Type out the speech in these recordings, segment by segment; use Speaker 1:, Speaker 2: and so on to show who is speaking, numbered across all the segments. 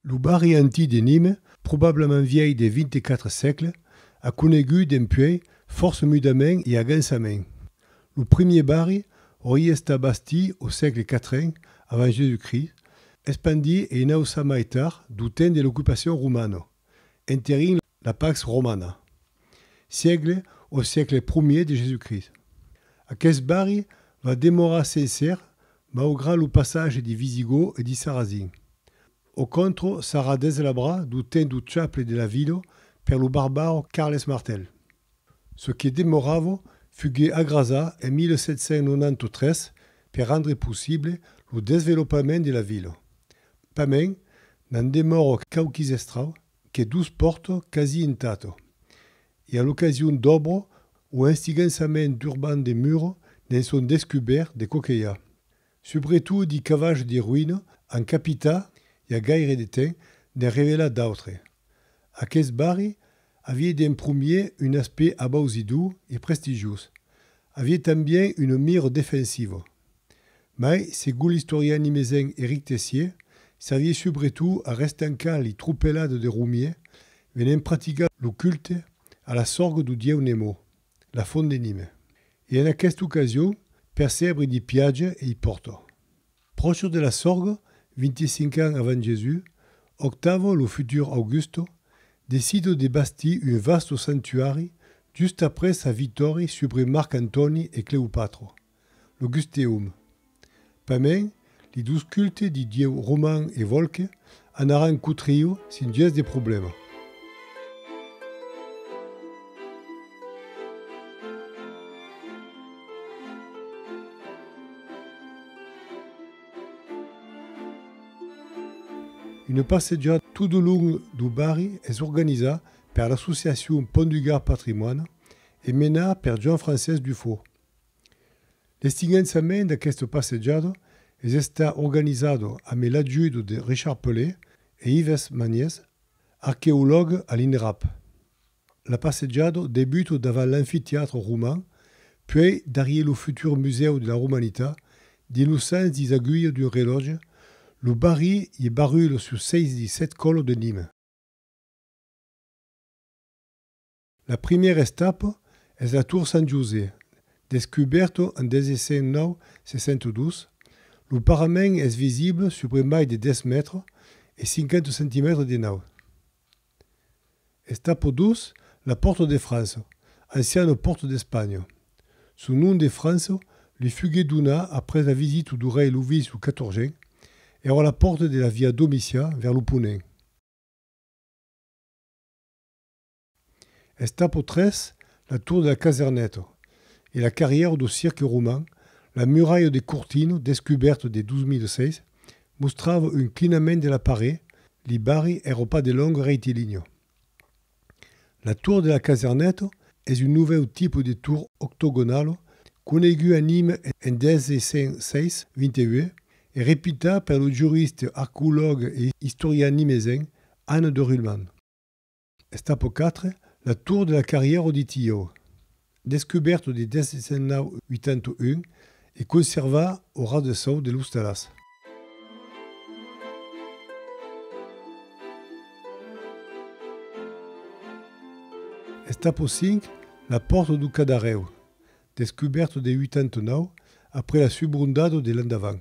Speaker 1: Lo barri antic de Nîmes, probablament vièlh de 24 sègle, a conegut dempuèi fòrça mudament e agansament. Lo primièr barri aurie estat bastit au sègle quatren avant Jésus-Christ, espandit e inauçat mai tard dau temps de l'ocupacion romana, enterint La Pax Romana. Siegle o siecle promier de Jésus-Christ. Aqueth barri va demorar sencer maugrat lo passage di Visigòu e di Sarrazin. Au contro sarà deslabra du temps du chaple de Lavido per lo barbaro Carles Martel. Ce que demoravo fugué agrasà en 1793 per rendre possible lo desvelopament de la vila. Pas mèn, n'en demòro quauquis estrau que dus pòrto quasi intato, e a l'ocasion d'òbro o enstigançament d'urban de muro ne'n son descubèrt de coquelha. Subretot di cavachs de roïna an capità i a gaire de temps n'en revelà d'autres. Aqueth barri avie d'en promier un aspect abausidor e prestigiós. Avie tanben una mira defensiva. Mai, segon l'istorian nimesenc Éric Tessier, s'avié subretot a restancar li tropelado de Romier venent practicar lo culte a la sorgue dau dieu Nemo, la font de Nime, e en aquesta ocasion per sèbre d'i Piaja e i Porto. Pròches de la sorgue, 25 ans avant Jesús, Octavo, lo futur Augusto, decida de bastir un vasto sanctuari just après sa vitòria subre Marc Antòni e Cleopatro. lo Gusteum. Pament, li dus cultes di dieu Roman e Volke anaràn cotriu sin gens de problèma. Una passejada tot au long dau barri es organizà per l'associacion Pont du Gard Patrimoine e menà per Joan-Francés Dufau. L'estinhançament d'aquesta passejada es estat organizada amé l'ajuda de Richard Pelé e Ives Maniez, arqueològue a l'INRAP. La passejada debuta davant l'amfiteatre roman, puèi darrier lo futur Musèu de la Romanitat, dins lo sens dis aguilha d'un relòtge, lo barri e barrula sus seis dis set còla de Nime. La primièra estapa es la Tour Sant José. Descubèrta en 19602, lo parament es visible subre mai de 10 mètres e 50 centimètres de naut. Estapa 2, la Pòrta de França, anciana Pòrta d'Espanha. Son nom de França li fuguèt donat après la visita du rei Lovis lo Catorgent. Èra la pòrta de la via Domician vers lo ponent. Es tapo tres la tour de la Caserneto e la carrièra do cirque roman, la muralha de Cortino descubèrta de 2006 mostrava un clinament de la paré, li barri èra pas de long reitilinio. La tour de la Caserneto es un novèu tipo de tour octogonalo conegut a Nîmes en 1606, 28 e repitat per lo juriste, arqueològue e istorian nimesenc Anne de Ruhlmann. Està pro quatre, la tour de la carrièra de Thieu. Descubèrto de 1981 e conservà au ras de sòu de l'ostalàs. Està pro cinc, la pòrta dau Cadarèu. Descubèrto de 89 après la subrondado de l'endavant.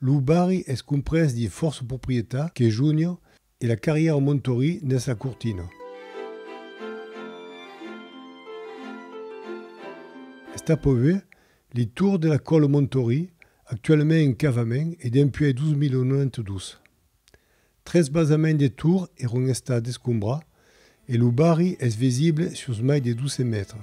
Speaker 1: Lo barri es comprés dins fòrça proprietats que Junio e la carrièra Montori nes la Cortina. Està pòble li tour de la còla Montori, actualament en cavament e dempuèi 2092. Tres basaments de tour èron estats descombrats e lo barri es visible sus mai de 12 mètres.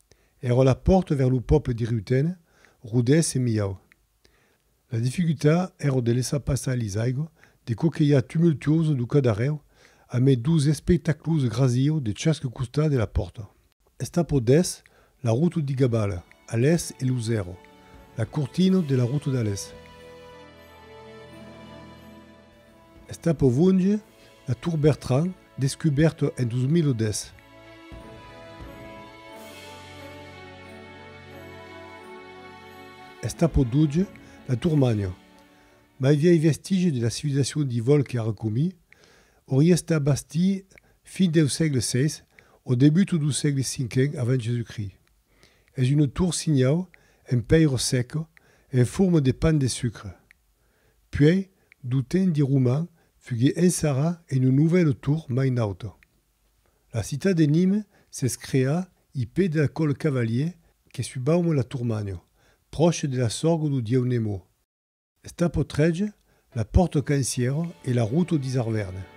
Speaker 1: Èrò la pòrta vers lo pòple de Riutena, Rodés e Miau. La dificulta èrò de laissar passar lis aigua de coquelha tumultuosa du cadarèu a mai dus espectaclus grasieu de chasque costat de la pòrta. Estapò dès la ruta de Gabala, a l'èst e lo zèro, la cortina de la ruta d'a l'èst. Estapò vonge la Tour Bertrand Descubèrt en 2010. Està pro doç la Turmanya, mai vièi vestigi de la civilizacion di Volke Arkomi, aurie estat bastí fin deu sègle vi o debutu du sègle cinquen avant Jesucrist. Es una tor-sinhau en pèira seca en forma de pan de sucre. Puèi, du temps de Roman, fugué ençarà en un novèl tour mai naut. La citat de Nîmes s'es creá i pè del còl cavalier que su baume la Tourmagno, pròche de la sorgue du dieu Nemo. Esta potreja la pòrt au Canciero e la route au Disarvèrne.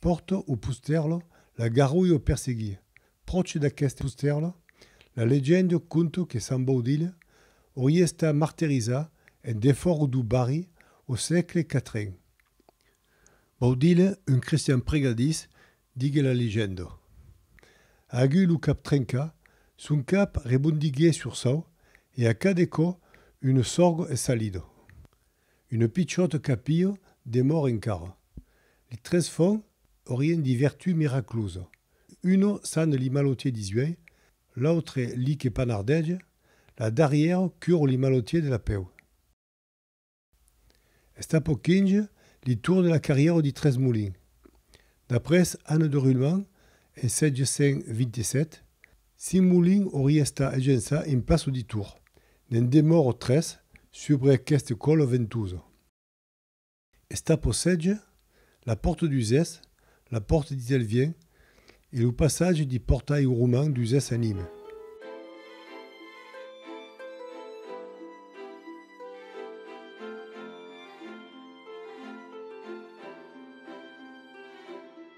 Speaker 1: Porto o pustèrlo, la garrulho per seguir. Pròche d'aqueste pustèrlo, la legenda o conto que Sant Baudilha aurie estat marterizat en defòru dau barri au sègle quatren. Baudilha, un cristian pregadís, diguèt la legenda. Aguy lo cap trencat, son cap rebondiguèt sur sau e a cada cò un sòrgo es salido. Une pichòta capilha demòr encara. Li tres fon aurien di vertú miraclosa. Una sane li malotier di zuei, l'autre li que panardege, la darrièra cura li malotier de la peu. Esta pò quinge li tour de la carrièra di tres molins. D'après Anne de Rulman en 727, Cinc Molins aurie estat agençat en pas auditor. Ne'n demòro tres subre aqueste còlo ventosa. Esta possètge la pòrta d'Uzès, la pòrta d'Itelvien e lo passatge de pòrtalh roman d'Uzès a Nîmes.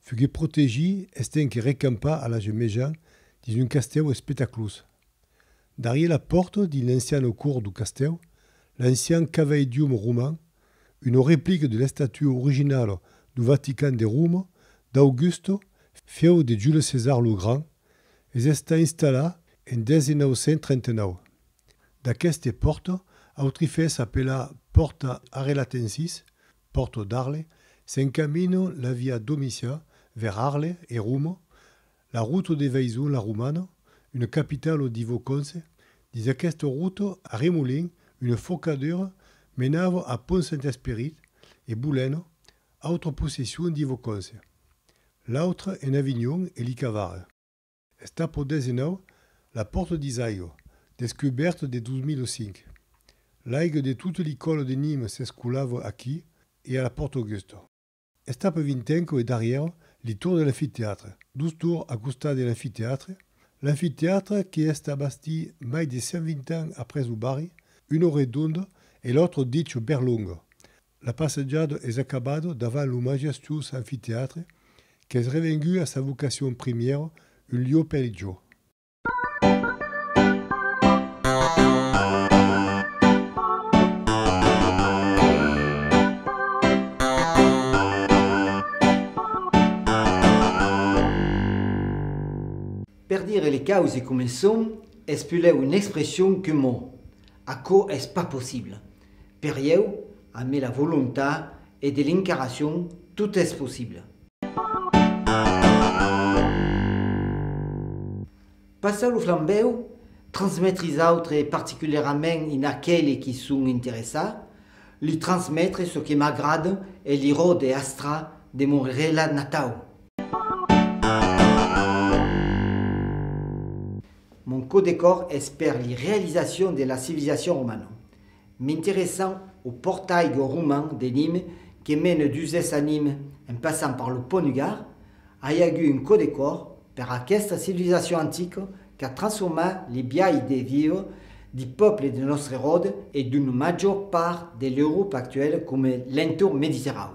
Speaker 1: Fugué protegit estenc recampar a l'Age Mejan dins un castèu espetaclós. Darrier la pòrta dins l'anciano cor du castèu, l'ancian caveidium roman, una replica de l'estatua originala du Vatican de Roma d'Augusto, fieu de Jules César lo Grand, es estat installat en 1939. D'aqueste pòrta autrifèrs apelà Pòrta Arelatensis, Porto d'Arles, s'encamina la via Domitia vers Arles e Roma, la ruta de Vaison la Romana, una capitala divo Conse. Dins aquesta ruta a Remolin una focadura menava a Pont Saint-Esperit e Boulena, autra possession divo Conse. L'autra en Avignon e Licavara. Està pro dens enau la pòrta d'Isaigo, descubèrta de 2005. L'aiga de tota l'icòla de Nîmes s'escolava aquí e a la Pòrta Augusta. Està per vintenco e darrièr li tour de l'amfitèatre, dos tours a costat de l'amfitèatre, l'amfitèatre que està bastí mai de 120 ans après lo barri, una redonda e l'autra dicha berlonga, La passejada es acabada davant lo majestuós amfiteatre qu'es revengut a sa vocacion primièra, un lieu pel jo.
Speaker 2: Per dire les causes com es son, es pulèu una expression que mò. Aquò es pas possible. Per ieu, amé la volontat e de l'incarnacion tot es possible. Passar lo flambèu, transmetre is autres e particulièrament in aqueli qui son interessa, li transmetre çò que m'agrada e li rode astra de mon relat natau. Mon cò de còr es per li realisacion de la civilisacion romana. M'interessan o portai go roman de Nîmes que mene d'Uzès a Nîmes en passant par lo pont du Gard, ai agut un cò de còr per aquesta civilisacion antica qu'a transformat li biais de viure li pòples de nòstre ròde e d'una major part de l'Europa actuèla coma l'entorn mediterrau.